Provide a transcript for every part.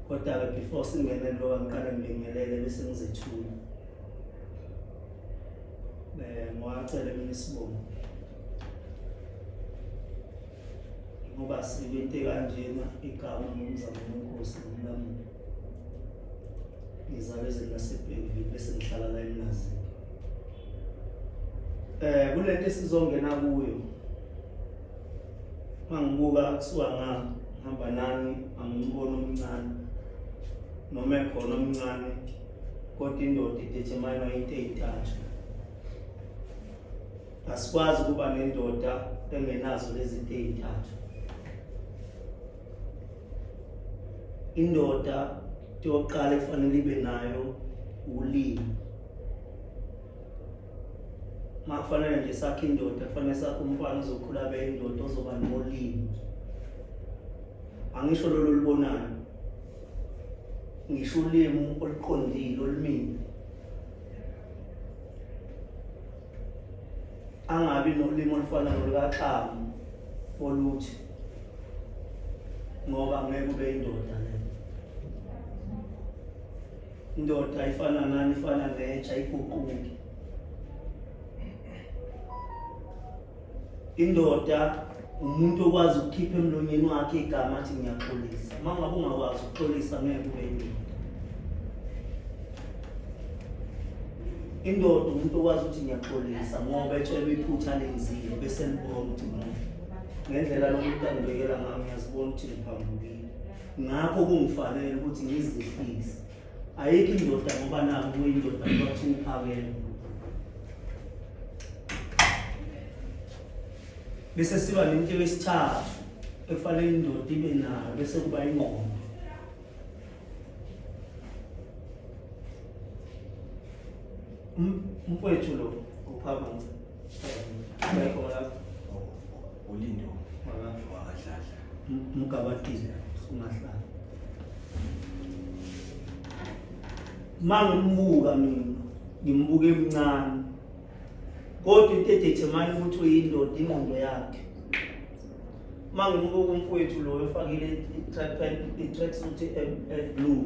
Kodwa-ke before singene kulowa ngiqale ngibingelele bese ngizethula. Eh ngwacela mina isibongo. Ngoba sikwente kanjena igama ngomzamo wenkosi nomlamulo. Ngizalwe ezilasebhekile bese ngihlala la emlazini. Eh kulento esizongena kuyo mangibuka kuthiwa ngihamba nani angimubona omncane noma ekhona omncane kodwa indoda idetermine into eyithathu asikwazi ukuba nendoda engenazo lezi nto eyithathu indoda yokuqala efanele ibe nayo ulimi makufanele nje sakhe indoda kufanele sakhe umfana ozokhula abe indoda ozoba nolimi angisho lolu olubonayo ngisho ulimi oluqondile olumile angabi nolimi olufana nolukaxamu oluthi ngoba ngeke ube indoda Indoda ifana nani ifana netsha iguquke. Indoda umuntu okwazi ukukhipha emlonyeni wakhe igama athi ngiyaxolisa. Uma ngabe ungakwazi ukuxolisa ngeke ube indoda. Indoda umuntu okwazi ukuthi ngiyaxolisa ngoba etshelwe iphutha lenzile bese libona ukuthi ngendlela lomuntu angibekela ngayo ngiyazibona ukuthi ngiphambukile. ngakho kungifanele ukuthi ngizihlise ayikho indoda ngoba nako kuyindoda kwathi uphakele bese siba nento yesithathu ekufanele indoda ibe nayo bese kuba ingqondo um, umfowethu lo uphakama ulindo wakadladla mgabatile ungahlala mangimbuka mina ngimbuke emncane kodwa into edethemana ukuthi uyindoda ingqondo yakhe mangimbuka umfowethu loyo ofakile i-track suit e-blue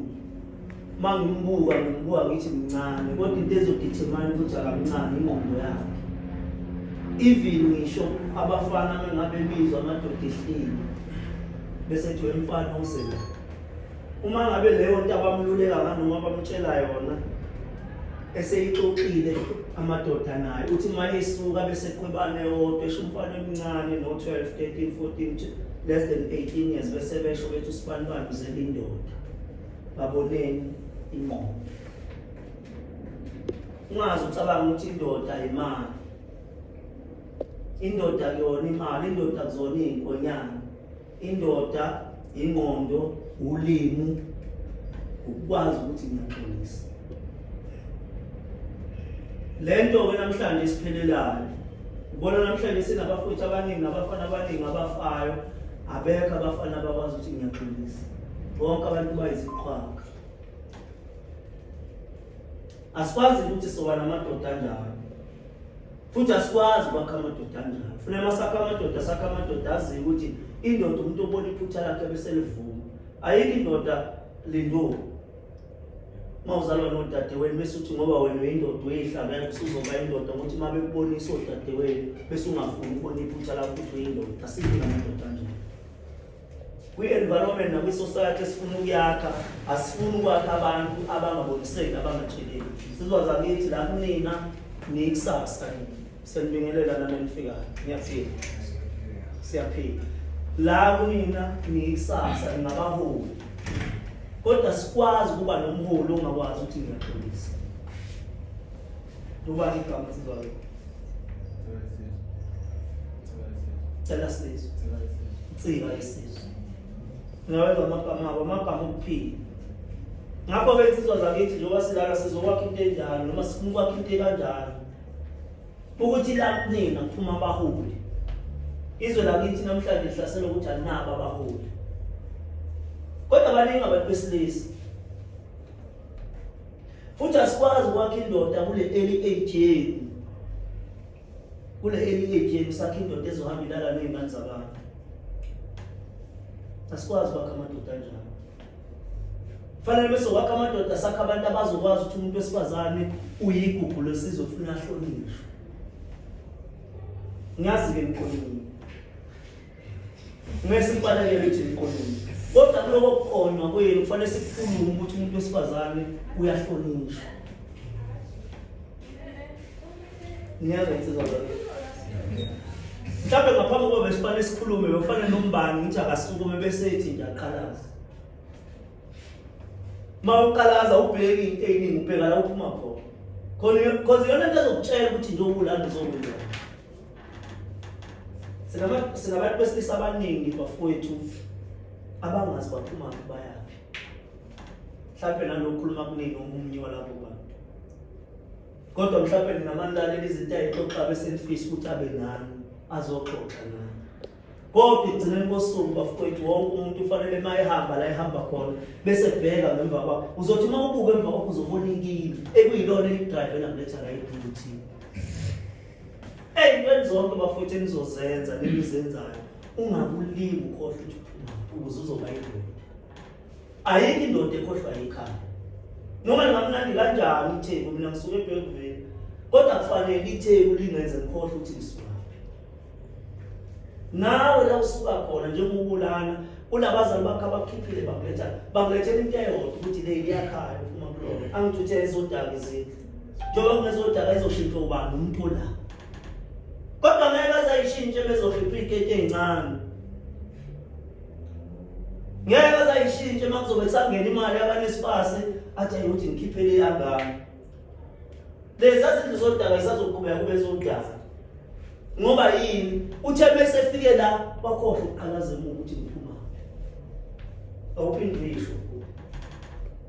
uma ngimbuka ngimbuka ngithi mncane kodwa into ezodithemana ukuthi akamncane ingqondo yakhe even ngisho abafana mengabe bizwa amadoda ehlile bese kuthiwa umfana usela uma ngabe leyo nto abamluleka nganoma bamtshela yona eseyixoxile amadoda naye uthi uma esuka bese qhwebane yodwa esho umfana omncane no-12 13 14 less than 18 years bese besho bethi usibanibani uzelindoda baboneni ingqondo ungazi ucabanga ukuthi indoda imali indoda kuyona imali indoda kuzona iy'nkonyana indoda ingqondo ulimu ukukwazi ukuthi ngiyaxolisa le nto ke namhlanje isiphelelayo ubona namhlanje sinabafowethu abaningi nabafana abaningi abafayo abekho abafana abakwazi ukuthi ngiyaxolisa bonke abantu bayiziqhwaga asikwazi ukuthi soba namadoda anjalo futhi asikwazi ukwakha amadoda anjalo funa masakha amadoda sakha amadoda aziyo ukuthi indoda umuntu obona iphutha lakhe bese livuma ayikho indoda lindoni mawuzalwa nodadewenu bese uthi ngoba wena uyindoda uyihlabela usuzoba indoda ngokuthi uma bekubonisa odadewenu bese ungafuni ukubona iphutha lakho ukuthi uyindoda asikho namadoda anjalo kwi-environment nakwi-society esifuna ukuyakha asifuni ukwakha abantu abangaboniseki abangatsheleki sizwa zakithi la kunina niyikusasa senibingelela nanenifikayo ngiyaphila siyaphila la kunina niyikusasa ningabaholi kodwa sikwazi ukuba nomholi ongakwazi ukuthi ngiyaxolisa Ubani igama esizwa ke? Cela sizwe. Nsika yesizwe. Ngawenza amagama abo, amagama okuphila. Ngakho ke insizwa zakithi njengoba silala sizokwakha into enjalo noma sifuna ukwakha into ekanjalo. Ukuthi la kunina kuphuma abaholi. Izwe lakithi namhlanje lihlaselwa ukuthi alinabo abaholi. Kodwa baningi abantu besilisa futhi asikwazi ukwakha indoda kule early age yenu kule early age yenu sakhe indoda ezohamba ilala nezingane zabantu asikwazi ukwakha amadoda njalo fanele bese wakha amadoda sakhe abantu abazokwazi ukuthi umuntu wesifazane uyigugu lesizwe funa ahlonishwe ngiyazi-ke ngiqonile ngeke simbalekele ukuthi iqondile kodwa kuloko kuqonywa kwenu kufanele sikukhulume ukuthi umuntu wesifazane uyahlonishwa niyazwa insizwa mhlawumbe ngaphambi kokuba besifanele sikhulume bekufanele nombani ukuthi akasukume bese ethi nje aqhalaze uma uqalaza ubheki into eyiningi ubheka la uphuma khona khona iyona nto ezokutshela ukuthi nje ubulanda uzokwenza Sinabantu besilisa abaningi bafowethu abangazi baphuma bayaphi. Mhlawumbe nanokukhuluma kunini omunye walabo bantu. Kodwa mhlawumbe ninamalalela izinto ayixoxa bese nifisa ukuthi abe nani azoxoxa nani. kodwa ekugcineni kosuku bafowethu wonke umuntu ufanele uma ehamba la ehamba khona bese ebheka ngemva kwakho uzothi uma ubuke emva kwakho uzobona inkini ekuyilona elidrayive namletha la ebhuthini Ey'ntweni zonke bafowethu enizozenza nenizenzayo ungakulingi ukhohlwa ukuthi uphuma ukuze uzoba indoda. Ayikho indoda ekhohlwa yikhaya. Noma ningamnandi kanjani itheku mina ngisuke ebhekuveni kodwa kufanele itheku lingenze ngikhohlwe ukuthi ngisuka. Nawe la usuka khona njengoba ubulana unabazali bakho abakhiphile bakuletha bakulethela into eyodwa ukuthi le iyakhaya uma kulona angithuthele zodaka izindlu njengoba kunezodaka ezoshintshwa ubani umuntu olapha kodwa ngeke bazayishintshe bezokhipha iy'keti ey'ncane ngeke bazayishintshe uma kuzobe kusangena imali abanesipasi athi ayikuthi ngikhiphele yangami leza zindlu zodaka zisazoqhubeka kube zodaka ngoba yini uthe bese efike la wakhohlwa ukuqalaza emuva ukuthi ngiphuma awuphinde uyisho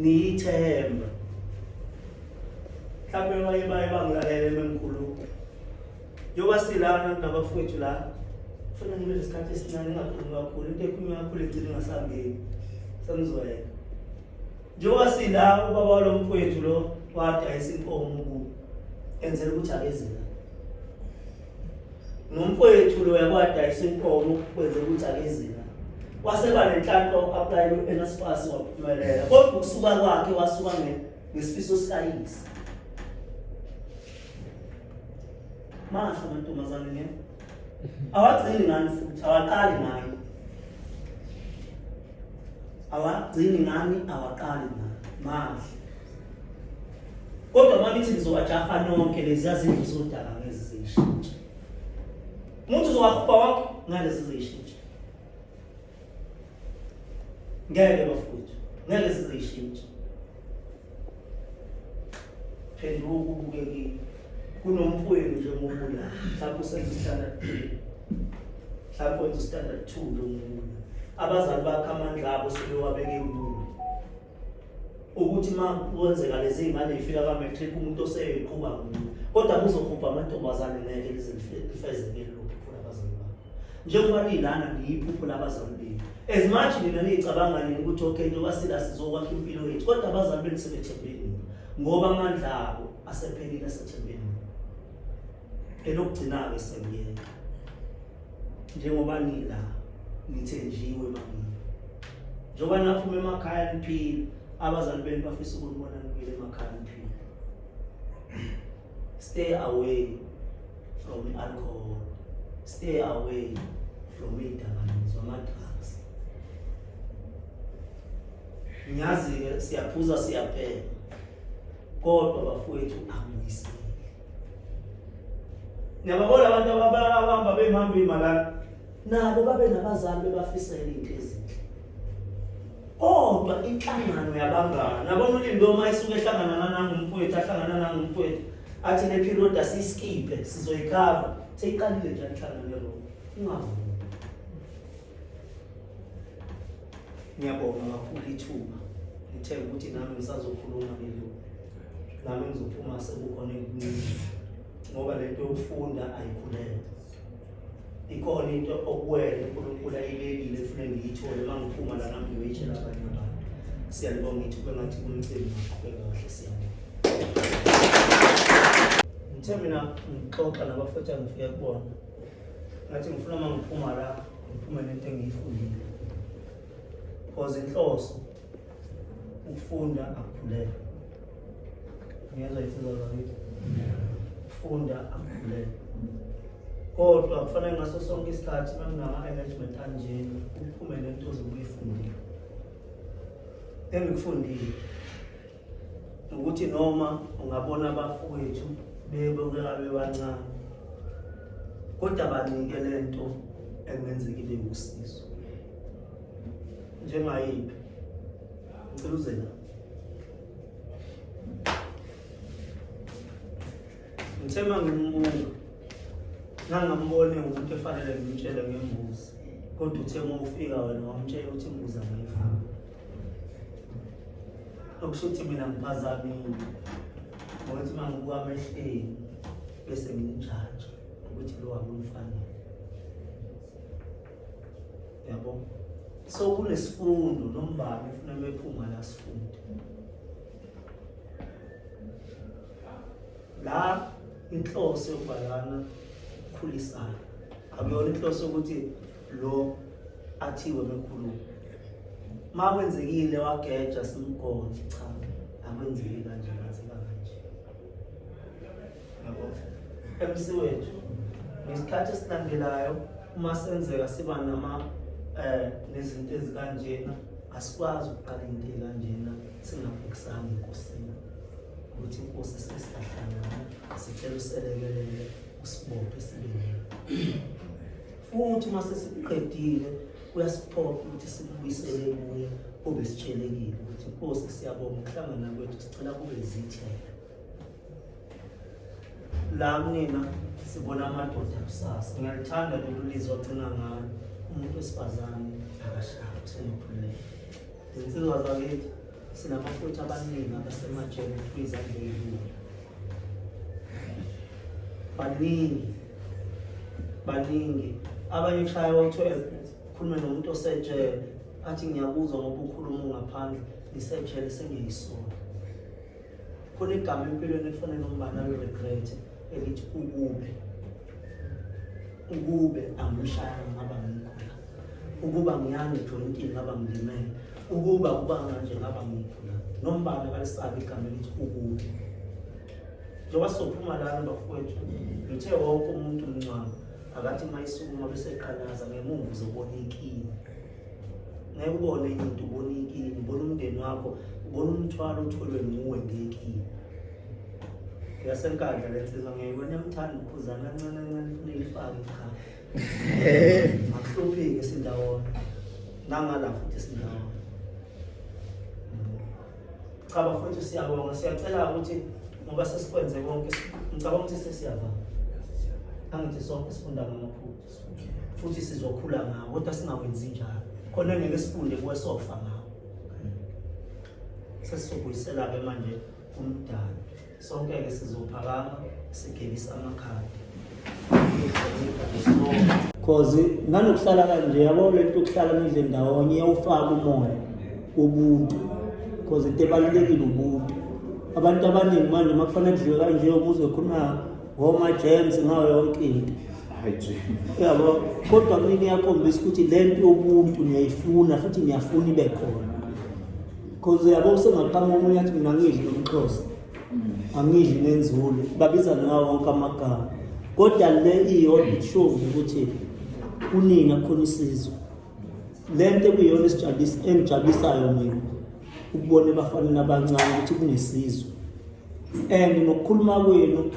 ngiyithemba mhlawumbe abanye baye bangilalele mengikhuluma njengoba silana nabafowethu la funa ngibe nesikhathi esincane ingakhulumi kakhulu into ekhulunywa kakhulu egcina ingasangeni sengizwayeka njengoba sila ubaba walo mfowethu lo wadayisa inkomo kubo enzela ukuthi akezela nomfowethu loya kwadayisa inkomo kwenze ukuthi akezina waseba nenhlanhla uku-aplayela u-nsfas waphumelela kodwa ukusuka kwakhe wasuka ngesifiso sikayise masho amantombazane nge awagcini ngani futhi awaqali ngani awagcini ngani awaqali ngani mahle kodwa makithi ngizowajaha nonke leziya zindlu zodaka ngezi ziyishintshe umuntu uzowahuba wonke ngalezi ziyishintshe ngeke bafowethu ngeke zizishintshe phenduka ubuke kimi kunomfowenu nje ngobula mhlawumbe usenza standard three mhlawumbe wenza standard two lo mfowenu abazali bakhe amandla abo sebewabeke kubo ukuthi uma kwenzeka lezi ngane ifika ka matric umuntu oseyiqhuba kumuntu kodwa kuzohubha amantombazane ngeke lizifezeke lokhu khona abazali babo njengoba nilana niyiphupho labazali benu as much nina niyicabanga nini ukuthi okay njengoba sila sizokwakha impilo yethu kodwa abazali benu sebethembeni ngoba amandla abo asephelile asethembeni elokugcina-ke sengiyeka njengoba nila ngithenjiwe mangini njengoba naphuma emakhaya niphile abazali benu bafisa ukunibona nibuyile emakhaya niphile stay away from i-alcohol stay away from iy'dakamizwa ama-drugs ngiyazi-ke siyaphuza siyabheka kodwa bafowethu angiyisile Niyababona abantu abahamba behamba imalana nabo babe nabazali bebafisela into ezinhle. Kodwa inhlangano yabangani nabona ulindo uma isuke ehlangana nanangumfowethu ahlangana nangumfowethu athi le period asiyiskiphe sizoyikhava seyiqalile njani inhlangano yalo ungavumi ngiyabonga kakhulu ithuba ngithe ukuthi nami ngisazokhuluma lelo nami ngizophuma sekukhona engincini ngoba le nto yokufunda ayikhulele ikhona into okuwele unkulunkulu ayibekile efune ngiyithole uma ngiphuma lana ngiyoyitshela abanye abantu siyalibonga ithuba ngathi kumcimbi ngaqhubeka kahle siyabonga ngithe mina ngixoxa nabafethu angifike kubona ngathi ngifuna uma ngiphuma la ngiphume nento engiyifundile because inhloso ukufunda akuphulele ngiyezwa ifuzo zakithi ukufunda akuphulele kodwa kufanele ngaso sonke isikhathi uma nginama-engagement anjena uphume nento ozobuyifundile engikufundile ukuthi noma ungabona abafowethu bebukeka bebancane kodwa banike le nto engenzeka ibe wusizo njengayiphi ngicela uze la ngithe uma ngimbuka ngangambone ngumuntu efanele ngimtshele ngembuzi kodwa uthe uma ufika wena wamtshela ukuthi imbuzi angayifuni okusho ukuthi mina ngiphazamile ngokuthi uma ngibuka amehleni bese ngimjaja ukuthi lo akumfanele yabo so kunesifundo nombani ufuna mephuma la sifunde la inhloso yokubhalana ukhulisayo akuyona inhloso yokuthi lo athiwe mkhulu ma kwenzekile wageja simgone cha akwenzeki kanje ngaziba kanje yabo MC wethu ngesikhathi esilandelayo uma senzeka siba nama eh nezinto ezikanjena asikwazi ukuqala into ekanjena singabhekisanga enkosini ukuthi inkosi sesihlahlana sicela uselekelele usibophe sibengeke futhi uma sesiqedile kuyasiphoqa ukuthi sikubuyisele kuye kube sitshelekile ukuthi nkosi siyabonga ukuhlangana kwethu sicela kube zithela la kunina sibona amadoda kusasa ngiyalithanda lolu lizwi agcina ngalo umuntu wesifazane akashayi usenekhululeko zinsizwa zakithi Sinabafowethu abaningi abasemajele kwiza ndeyini. Baningi. Baningi. Abanye ushaya u-12 khulume nomuntu osejele athi ngiyakuzwa ngoba ukhuluma ungaphandle ngisejele sengiyisona. Khona igama empilweni efanele umbana liregrete elithi ukubi. ukube angimshaya ngaba ngimkhula ukuba ngiyange jointini ngaba ngilimele ukuba kubanga nje ngaba ngimkhula nombala kalisabi igama elithi ukube njengoba sophuma lana bafowethu ngithe wonke umuntu mncwabo akathi uma isukuma beseqalaza ngemuva uzobona inkinga ngeke ubone enye into ubona inkinga ubona umndeni wakho ubona umthwalo otholwe nguwe ngekini yasenkandla le nsizwa ngiyayibona yamthanda uphuzana kancane kancane funa ilifake ikhaya akuhluphike sindawona nangala futhi sindawona cha bafowethu siyabonga siyacela ukuthi ngoba sesikwenze konke ngicabanga ukuthi sesiyavama angithi sonke sifunda ngamaphutha futhi sizokhula ngawo kodwa singawenzi njalo khona ngeke sifunde kuwe sofa ngawo sesizobuyisela-ke manje umdala sonke-ke sizophakama sigebisa amakhadi cause nanokuhlala kanje yabo le nto yokuhlala nidle ndawonye iyawufaka umoya ubuntu cause into ebalulekile ubuntu abantu abaningi manje uma kufanele kudliwe kanje umuzi wekhonako ngoma James ngayo yonke into yabo kodwa mina iyakhombisa ukuthi le nto yobuntu ngiyayifuna futhi ngiyafuna ibe khona because yabo usengaqama omunye athi mina ngidli nomxhosa mm. angidli nenzulu babiza ngawo wonke amagama kodwa le iyodwa ishovu ukuthi kunini akukhona isizwe le nto ekuyiyona esijabulisayo mina ukubona ebafaneni abancane ukuthi kunesizwe and ngokukhuluma kwenu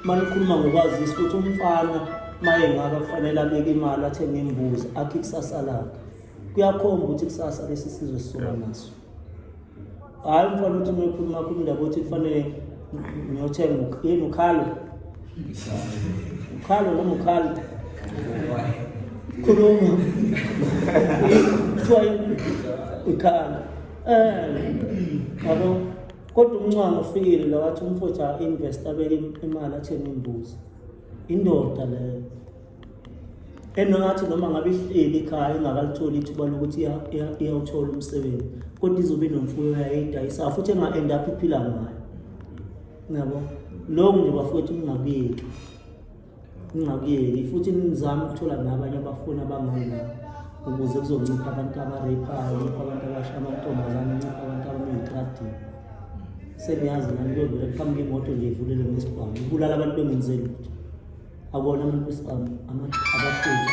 manikhuluma ngokwazisa ukuthi umfana maye ngaka kufanele abeke imali athenge imbuzi akhe ikusasa lakhe kuyakhomba ukuthi kusasa lesi sizwe sisuka naso hhayi umfana ukuthi mekhuluma khuluma indaba ukuthi kufanele ngiyothenga yini ukhalo ukhalo noma ukhalo khuluma kuthiwa ukhalo um yabo Kodwa umncwane ufikile la wathi umfutha invest abeke imali athenge imbuzi. Indoda leyo. Enongathi noma ngabe ihleli ekhaya ingakalithola ithuba lokuthi iyawuthola umsebenzi kodwa izobe nomfuyo yayidayisa futhi enga end up iphila ngayo. Nabo. Lokhu nje bafowethu kungabiki. ngingakuyeli futhi nizama ukuthola nabanye abafuni abangani nabo ukuze kuzoncipha abantu abareyiphayo ncipha abantu abasha amantombazane ncipha abantu abameyitradini sengiyazi nani kuyovela kuqhamuka imoto nje ivulele ngesibhamu ibulala abantu bengenzeli lutho akona umuntu wesibhamu abafuthi